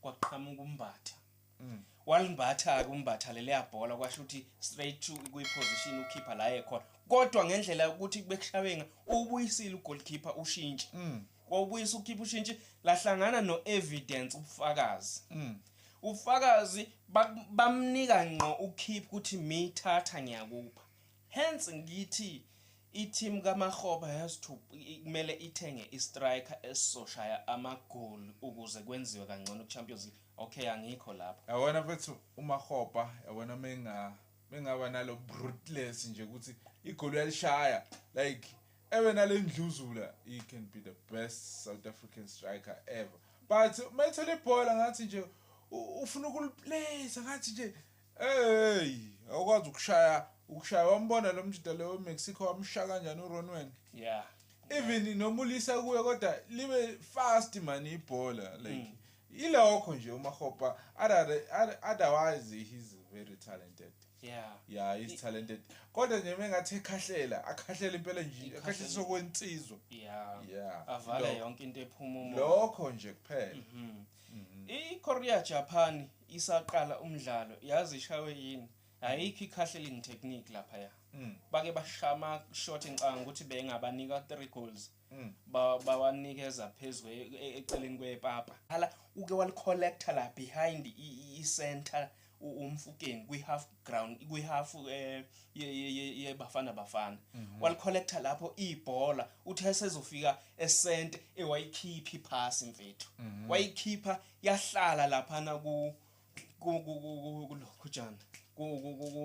kwaqhamuka umbatha mm. walimbatha-ke umbatha leleya bhola kwasho ukuthi straight to kwiposition ukhipha la ekhona kodwa ngendlela yokuthi bekushawenga ubuyisile ugolkeeper ushintshe mm. wawubuyisa ukhipha ushintshe lahlangana no-evidence ubufakazi mm. ubufakazi bamnika ngqo ukhipha ukuthi miyithatha ngiyakupha Hence ngithi i-team kaMakgopa has to kumele ithenge i-striker esizoshaya amagoli ukuze kwenziwe kangcono ku-Champions League. Okay angikho lapho. Yabona mfethu uMakgopa yabona menga mengaba nalo brutless nje ukuthi igoli uyalishaya like ebe nalendluzula he can be the best South African striker ever but mayithola ibhola ngathi nje ufuna ukuliplace ngathi nje Hey, awukwazi ukushaya ukushaya wambona lo mjita lo weMexico wamshaya kanjani uRonwen? Yeah. Even noma ulisa kuye kodwa libe fast mani ibhola like mm. ilokho nje uMahopa otherwise he's very talented. Yeah. Yeah, he's talented. Kodwa nje mengathi ekhahlela, akhahlela impela nje, akhahlela sokwensizwa. Yeah. Yeah. Avale yonke into ephuma umoya. Lokho nje kuphela. Mhm. Mm Mhm. I-Korea Japan isaqala umdlalo yazi ishawe yini? Ayikho i-casheling technique lapha ya. Mm. Bake bashama short ngicanga ukuthi bengabanika 3 goals. Mm. Ba bawanikeza phezwe e, e, eceleni kwepapa. Hala uke walicollector la behind i-center umfukeni kwi-half ground kwi-half eh, yebafana bafana mhm. walicollecta lapho ibhola uthe esezofika esente ewayikhipha iphasi mfethu mhm. wayikhipha yahlala laphana ku kulokhujana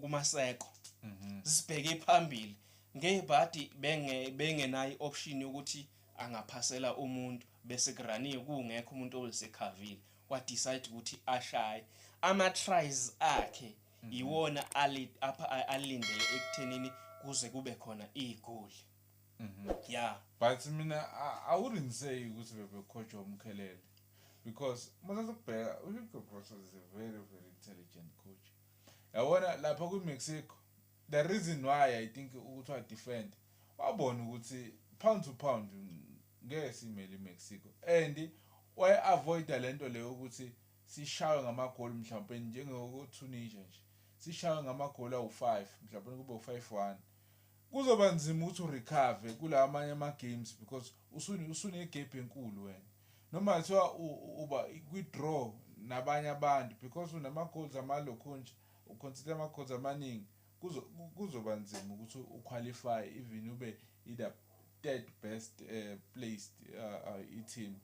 kumaseko mhm. sibheke phambili ngebhadi benge bengenayo option yokuthi angaphasela umuntu bese kuraniwe kungekho umuntu olisecavile wa decide ukuthi ashaye ama tries akhe mhm. iwona ali apha alindele ekuthenini kuze kube khona igoli mhm. yeah but mina i wouldn't say ukuthi bebekhotshwa umkhelele because muthatha ukubheka uhugo bross is a very very intelligent coach yabona lapha kwi-mexico The reason why I think ukuthi wa defend wabona ukuthi pound to pound ngeke simele iMexico and waye avoida lento leyo ukuthi sishawe ngamagoli mhlawumbe njengokuTunisia nje sishawe ngamagoli awu-5 mhlawumbe kube u-5-1 kuzoba nzima ukuthi urecover kula amanye ama-games because usunegap enkulu wena noma kuthiwa uba kwi-draw nabanye abantu because unama-goals amalokhunja Uconsider ama course amaningi kuzoba nzima ukuthi u qualify even ube either third best placed I team.